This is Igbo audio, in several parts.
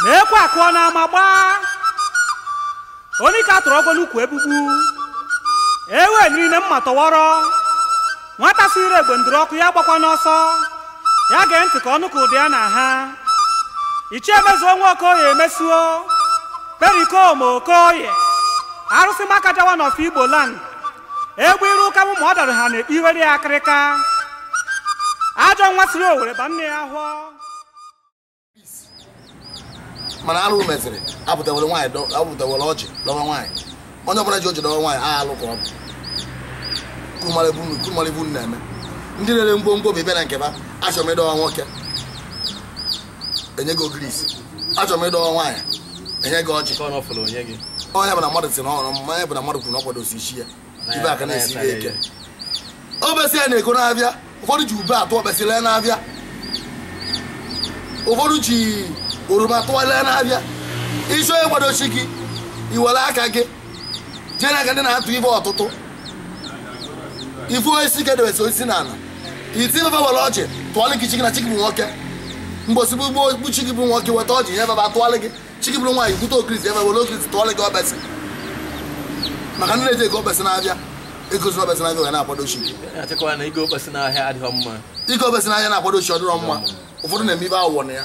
na ekwe akụọ n'ama agbaa onye ka a tụrụ ọgwọ n'ukwu egbugbu ewe niine mma tọwọrọ nwata si ire egbe ndụrụ ọkụ ya gbakwana ọsọ ya gee ntị ka ọ nụ ka ụda ya na-aha ichie mezuo nwa okoye mezuo pericoma okoye arụsị makaja one of igbo land egbe iru ụka mụ ma ọ dara ha na-ekpe iwere ya akịrịka ajọ nwa siri owere ba nne ya ahọ mana arụ meziri apụtawere nwaanyị dọ- apụtawere ọjị dọwa nwaanyị onye ọbụla ji ọjị dọwa nwaanyị a alụ ka ọ bụ kumara ibu unu- kumara ibu unu na-eme ndị na-ere ngwongwo bụ ịbịa na nke ba achọrọ m ịdọwa nwoke enye gị ogirisi achọrọ m ịdọwa nwaanyị enye gị ọjị ọ ya bụ na mmadụ si na ọrụ mmanya bụ na mmadụ kwuru na ọ kwadosi isi ya ibe aka na-esi ya eke okpesi ya na-ego n'afịa ụfọdụ ji ube atụ okpesi lee n'afịa ụfọdụ ji oroma tụwa lee n'afịa ị chọọ ịkwado chi gị i were aka gị jee na nke ndị na-atụ ife ọtụtụ ifu osisi ka edewesi osisi na ala iti ife were ọjị tụọlị gị chi gị na chi gị bụ nwoke mgbosi bụ ugbo bụ chi gị bụ nwoke weta ọjị ya baba tụọlị gị chi gị bụrụ nwaanyị bute ogirisi ebe were ogirisi tụọlị gị okpesi maka ndị na-eje ego okpesi n'afịa ego zuru okpesi n'afịa ga na-akwado chi gị achịkọwa na igo okpesi n'ahịa adịghị mma igo okpesi n'afịa na-akwado chi ọ dịrọ mma ụfọdụ na-eme ife awụwọ na ya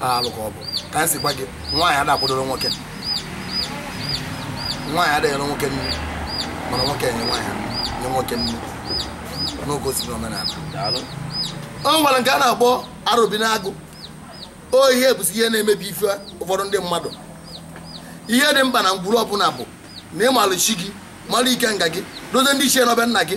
alụ ka ọ bụ ka anyị si gwa gị nwaanyị ada akwadoro nwoke nwaanyị adịghị na nwoke nne mana nwoke nye nwaanyị nye nwoke nne n'oge osi n'omenala o nwere nke a na-akpọ arọbinagụ o ihe bụzi ihe na-emebi ife ụfọdụ ndị mmadụ ihe dị mkpa na ngwuru ọbụla bụ na ịmalụ chi gị mara ikenga gị dozie ndị ichie nọ be nna gị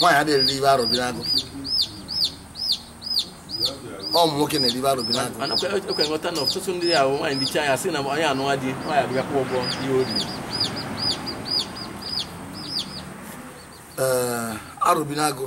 nwaanyị adịghị eri ife arọbinagụ ọ ụmụ nwoke na-eri ife arọbinagụ mana ekwe nghọta na ọtụtụ ndị ahụ nwaanyị richaa ya sị na onye anụwa di nwaanyị abịa kwụọ ụgwọ ihe o riri ee arọbinagụ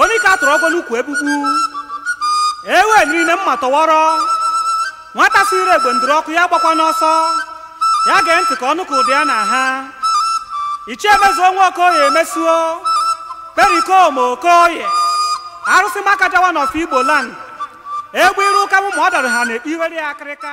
onye ka a tụrụ ọgwọ n'ukwu egbugbu ewe niine mma tọwọrọ nwata si ire egbe ndụrụ ọkụ ya gbakwana ọsọ ya gee ntị ka ọ nụ ka ụda ya na-aha ichie mezuo nwa okoye mezuo pericoma okoye arụsị makaja one of igbo land egbe iru ụka mụ ma ọ dara ha na-ekpe iwere ya akịrịka